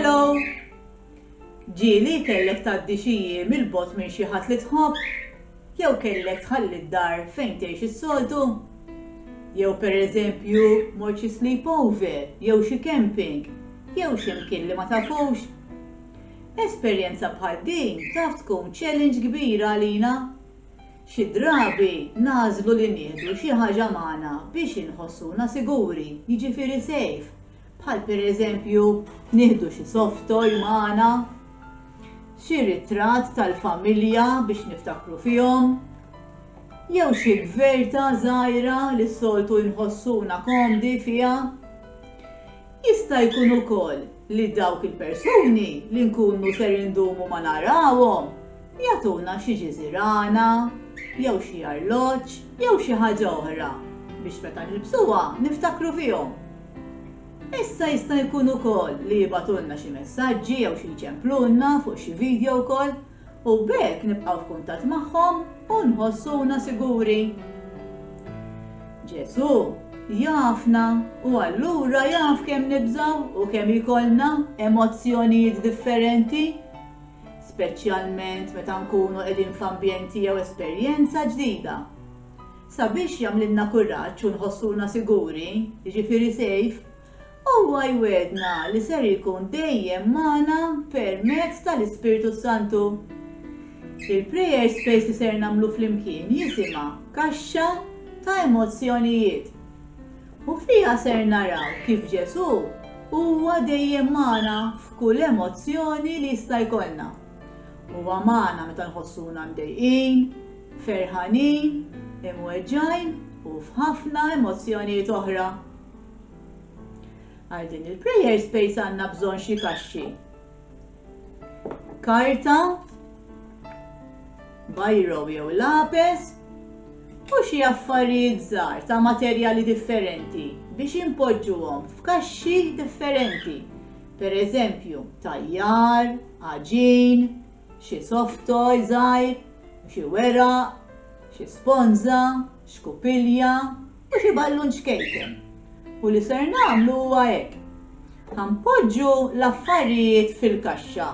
Hello! Ġieli kellek tgħaddi xi jiem il-bot minn xi ħadd li tħobb? Jew kellek tħalli d-dar fejn tgħix is-soltu? Jew pereżempju mort xi sleepover jew xi camping jew x'imkien li ma tafux? Esperjenza bħal din taf tkun challenge kbira għalina Xi drabi nagħżlu li nieħdu xi ħaġa magħna biex inħossuna siguri, jiġifieri safe, bħal pereżempju nieħdu xi soft toy magħna, xi ritratt tal-familja biex niftakru fihom, jew xi gverta żgħira li s-soltu nħossuna komdi fiha. Jista' jkun ukoll li dawk il-persuni li nkunu ser indumu ma narawhom jagħtuna xi ġiżirana jew xi arloġġ jew xi ħaġa oħra biex meta nilbsuha niftakru fihom. Issa jista' jkun ukoll li jibgħatulna xi messaġġi jew xi jċemplulna fuq xi vidjo wkoll u b'hekk nibqgħu f'kuntatt magħhom u nħossuna siguri. Ġesù jafna u allura jaf kemm nibżgħu u kemm ikollna emozzjonijiet differenti, speċjalment meta nkunu qegħdin f'ambjenti jew esperjenza ġdida. Sabiex jagħmlilna kuraġġ u nħossuna siguri, jiġifieri safe, Huwa jwiegħdna li ser ikun dejjem magħna permezz tal-Ispirtu s-Santu. Il-prayer space li ser nagħmlu flimkien jisimha Kaxxa ta' Emozzjonijiet. U fiha ser naraw kif Ġesù huwa dejjem magħna f'kull emozzjoni li jista' jkollna. Huwa magħna meta nħossuna mdejqin, ferħanin, imweġġgħin u f'ħafna emozzjonijiet oħra. Għal din il-prayer space għandna bżonn xi kaxxi. Karta, bajro jew lapes u xi affarijiet żgħar ta' materjali differenti biex impoġġuhom f'kaxxi differenti. Per eżempju, tajjar, aġin, xi soft toy żgħir, xi weraq, xi sponza, xkupilja, u xi ballun ċkejken. U li ser nagħmlu huwa hekk. Ħanpoġġu l-affarijiet fil-kaxxa.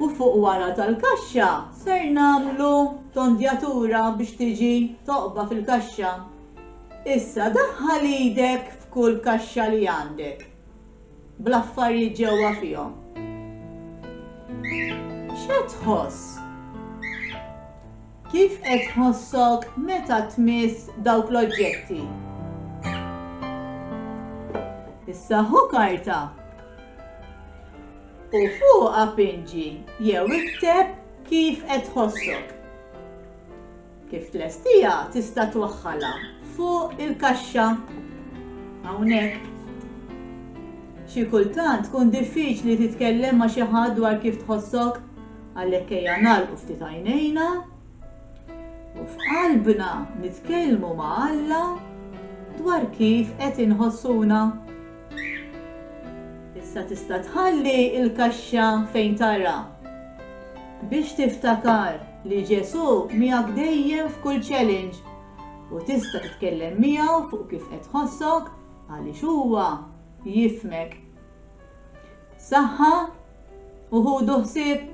U fuq wara tal-kaxxa ser nagħmlu tondjatura biex tiġi toqba fil-kaxxa. Issa daħħal idek f'kull kaxxa li għandek. bl-affarijiet ġewwa fihom. X'qed tħoss? Kif qed tħossok meta tmiss dawk l-oġġetti? Issa ħu karta u fuqha pinġi jew ikteb kif qed tħossok. Kif tlestiha tista' twaħħalha fuq il-kaxxa hawnhekk. Xi kultant tkun diffiċli titkellem ma' xi ħadd dwar kif tħossok, għalhekk ejja nagħlqu ftit għajnejna u f'qalbna nitkellmu ma' Alla dwar kif qed inħossuna. Issa tista' tħalli l-kaxxa fejn tara biex tiftakar li Ġesù miegħek dejjem f'kull challenge u tista' titkellem miegħu fuq kif qed tħossok għaliex huwa jifhmek. Saħħa u ħudu ħsieb